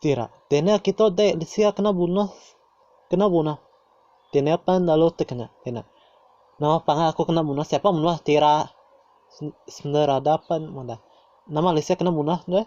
Tira. Tene kito dei sia kena bunuh kena bunuh. Tene pan lalu te kena kena. Nama pangan aku kena bunuh siapa bunuh tira. Sender ada pan meda. Nama lisia kena bunuh deh.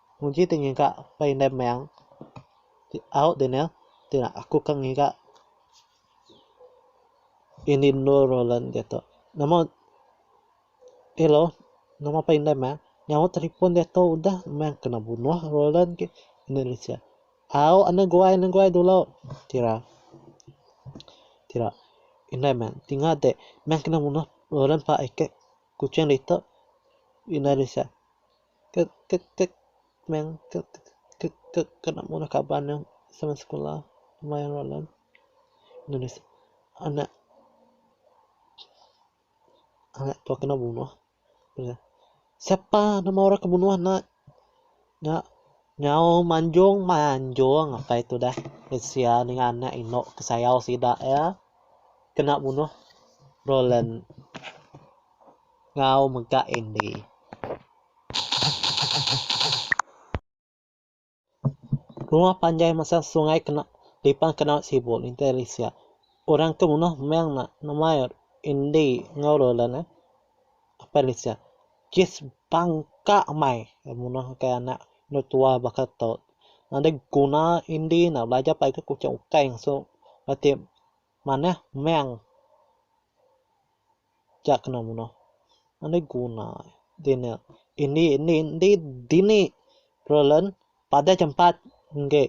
Nguji ti ngiga ba indai meng ti au diner ti aku ke ngiga indi endur Roland diatu. Nama elo nama pa indai meng nyaut telefon diatu udah meng kena bunuh Roland ke enda lesen. Au anu guai anu guai dulu kira kira indai meng ti ngade meng kena bunuh Roland pa ake Kuching ditu enda lesen. Kek kek kek meng kek kek kek kek kena ngundah kaban iya sama sekula maya enrollment inu deh anak anak tua kena bunuh iya sapa nama orang ke bunuh nya nya nyaung manjung manjung apai tu dah kesian dengan anak inu ke sayau sida iya kena bunuh enrollment. ngau mega Andy. Rumah panjai masa sungai kena dipan kenau sibuk nintai risia. Orang ke munah meng ne nemai Andy ngau Roland eh apai risia. Jis bangka amai ke munah kai anak endur tua baka tu. Nadai guna Andy ne belajar pagi ke kuching ukai ngasu bala ti manah meng. Nya kena menoh. Enda guna dini. Indi indi indi dini Roland padah chempat enggi.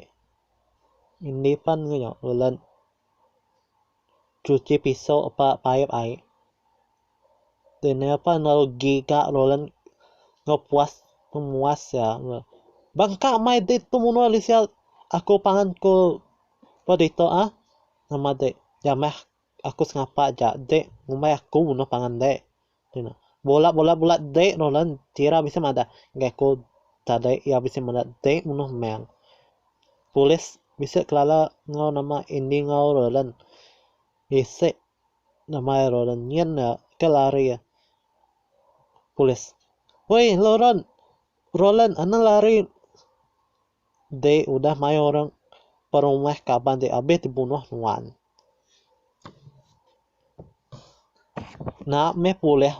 Indi pan enggau nya Roland chuchi piso ba paip ai. Dini pan lalu giga Roland enggau puas pemuas iya. Bangka mai dek tu menoh Alicia. Aku pangan ku ba ditok ah. Nama dek jamah aku sengapa aja de ngumbai aku noh pangan de ku iya. Bola bola bola de Roland Tira bisi madah ngagai aku tadi iya bisi madah de munoh meng. Polis bisi kelala enggau nama Andy enggau Roland bisi nama iya Roland nyin iya ke lari polis. Woi Roland Roland anu lari. Dei udah mai orang perumah kaban dei abih dibunuh nuan. Enda meh pulih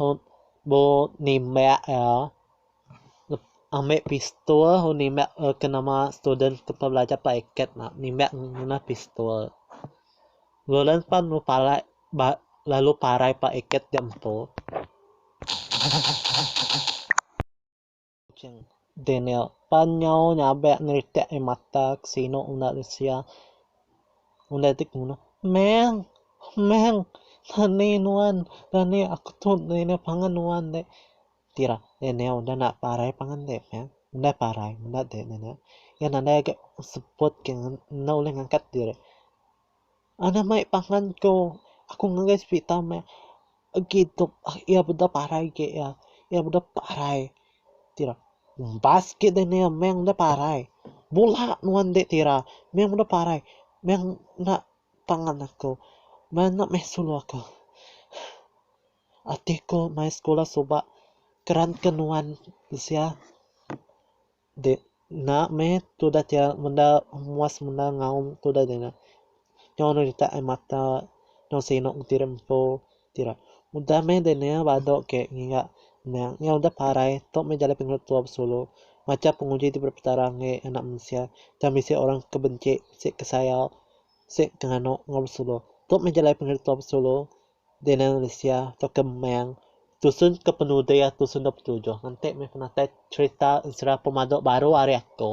bu nimbak iya ambe pistol nimbak ke nama student ke belajar ba eket nimbak ngena pistol. Lolan pan lu parak lalu parai ba eket diatu. Kuching. Daniel, pan nyau nyabek neritak ai mata ke sinu unda disia. Unda ti kemudah, Meng! Meng! Rani nuan! Rani aku tu dina pangan nuan dek. Tira, Daniel unda enda parai pangan dek, Meng. Unda parai, enda dek, Daniel. Iya nadai agi seput ke enda ulih ngangkat diri. Anak mai pangan tu aku ngagai serita meh agi dep iya meda parai agi iya. Iya meda parai ti ira umbas agi deh nia meh meda parai. Bula nuan ende ti ira meh meda parai meh enda pangan aku meh enda meh sulu aku. Ati ku mai sekula suba keran ke nuan bisi iya. Dek enda meh tudah ti menda muas menda ngaum tudah dina. Nyau anu ditak ai mata nyau sinuk ti ri empu ti ira. Udah meh dina badu ke ngiga nya nyau udah parai tu meh jalai pengeluk tua besulu. Macha penguji ti beri petara enggi anak mensia tang bisi orang ke benci, bisi ke sayau, bisi ke nganu enggau besulu. Tu meh jalai pengeluk tua besulu. Daniel Lisia tauka Meng tusun ke penudi iya tusun dua puluh tujuh nganti meh penatai cherita ensera pemadu baru ari aku.